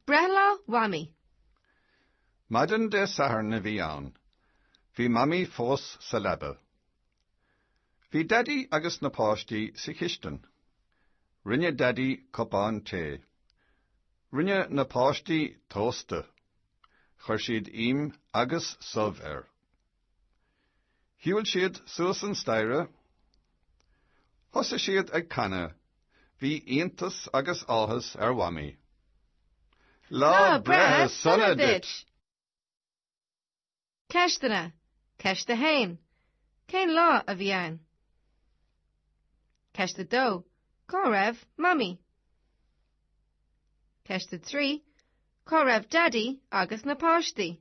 Breithlá Mhamaí. Maidin Dé Sathairn a bhí ann. Bhí Mamaí fós sa leaba. Bhí Daidí agus na páistí sa chistin. Rinne Daidí cupán tae. Rinne na páistí tósta. Chuir siad ím agus subh air. Shiúil siad suas an staighre. Thosaigh siad ag canadh. Bhí iontas agus áthas ar Mhamaí. Lá breithe sona duit! Ceisteanna, Ceist 1. Cén lá a bhí ann? Ceist 2. Cá raibh Mamaí? Ceist 3. Cá raibh Daidí agus na páistí?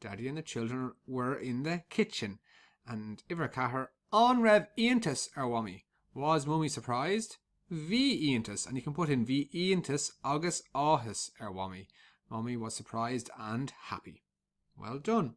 Daddy and the children were in the kitchen and Uimhir 4, An raibh iontas ar Mhamaí? Was Mummy surprised? Bhí iontas and you can put in Bhí iontas agus áthas ar Mhamaí. Mummy was surprised and happy. Well done.